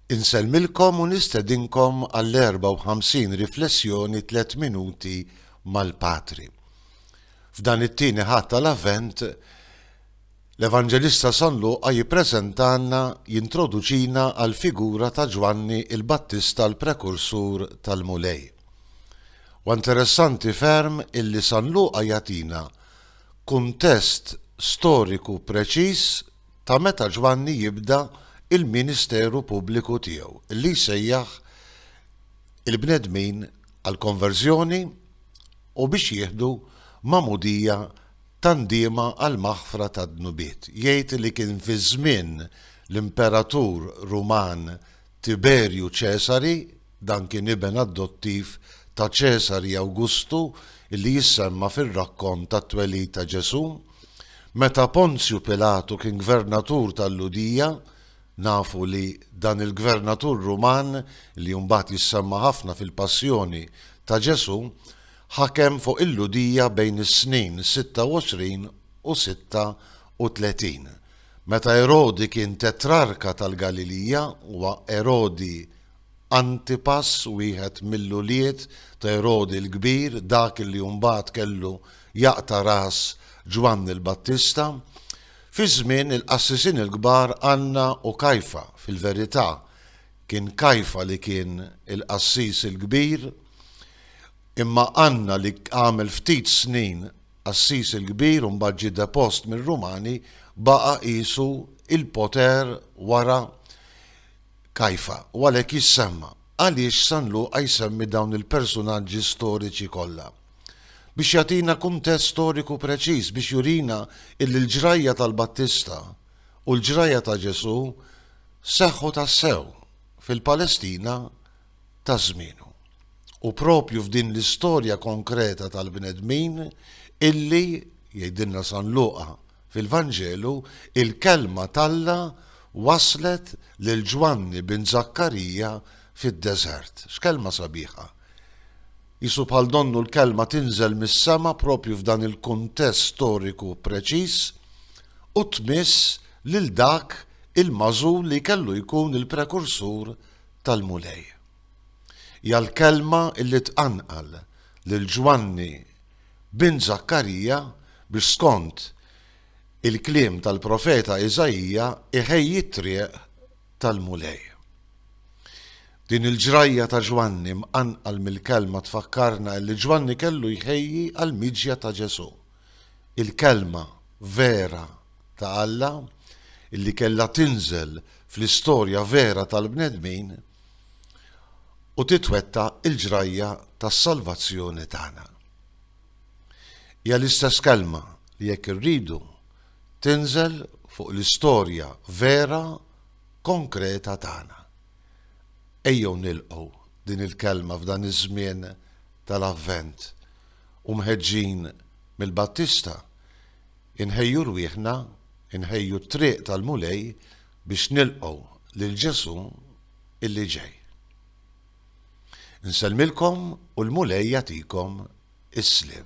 Insellmilkom u nistedinkom għall-54 riflessjoni Tliet Minuti mal-Patri. F'dan it-tieni Ħadd tal-Avvent, l-Evanġelista San Luqa jippreżentalna, jintroduċina għall-figura ta' Ġwanni l-Battista l-prekursur tal-Mulej. Huwa interessanti ferm illi San Luqa jagħtina kuntest storiku preċiż ta' meta Ġwanni jibda l-ministeru pubbliku tiegħu li jsejjaħ il-bnedmin għall-konverżjoni u biex jieħdu magħmudija ta' ndiema għall-maħfra tad-dnubiet. Jgħid li kien fi żmien l-imperatur Ruman Tiberju Ċesari, Dan kien iben adottiv ta' Ċesari Awgustu li jissemma fir-rakkont tat-twelid ta' Ġesù. Meta Ponzju Pilatu kien gvernatur tal-Lhudija, nafu li dan il-gvernatur Ruman, li mbagħad jissemma ħafna fil-Passjoni ta' Ġesù, ħakem fuq il-Lhudija bejn is-snin 26 u 36. Meta Erodi kien tetrarka tal-Galilija, huwa Erodi Antipas, wieħed mill-ulied ta' Erodi l-Kbir, dak li mbagħad kellu jaqta' ras Ġwanni l-Battista. Fi żmien il-qassisin il-kbar Anna u Kajfa, fil-verità, kien Kajfa li kien il-qassis il-kbir, imma Anna li għamel ftit snin qassis il-kbir u mbagħad ġie depost mir-Rumani, baqa' qisu l-poter wara Kajfa, u għalhekk jissemma. Għaliex San Luqa jsemmi dawn il-persunaġġi storiċi kollha? Biex jagħtina kuntest storiku preċiż, biex jurina illi l-ġrajja tal-Battista u l-ġrajja ta' Ġesù seħħu tassew fil-Palestina ta' żmienu. U proprju f'din l-istorja konkreta tal-bnedmin illi, jgħidilna San Luqa fil-Vanġelu, il-Kelma t'Alla waslet lil Ġwanni bin Żakkarija fid-deżert. X'kelma sabiħa! Qisu bħal donnu l-Kelma tinżel mis-sema proprju f'dan il-kuntest storiku preċiż u tmiss lil dak il-magħżul li kellu jkun il-prekursur tal-Mulej. Hija l-kelma li tqanqal lil Ġwanni bin Żakkarija biex skont il-kliem tal-profeta Iżaija jħejji t-triq tal-Mulej. Din il-ġrajja ta' Ġwanni mqanqal mill-kelma tfakkarna illi Ġwanni kellu jħejji għall-miġja ta' Ġesù, il-kelma vera ta' Alla, illi kellha tinżel fl-istorja vera tal-bnedmin u titwettaq il-ġrajja tas-salvazzjoni tagħna. Hija l-istess kelma li jekk irridu tinżel fuq l-istorja vera konkreta tagħna. Ejjew nilqgħu din il-kelma f'dan iż-żmien tal-Avvent u mħeġġin mill-Battista Inħejju rwieħna, inħejju t-triq tal-Mulej biex nilqgħu lil Ġesù illi ġej. Insellmilkom u l-Mulej jagħtikom is-sliem.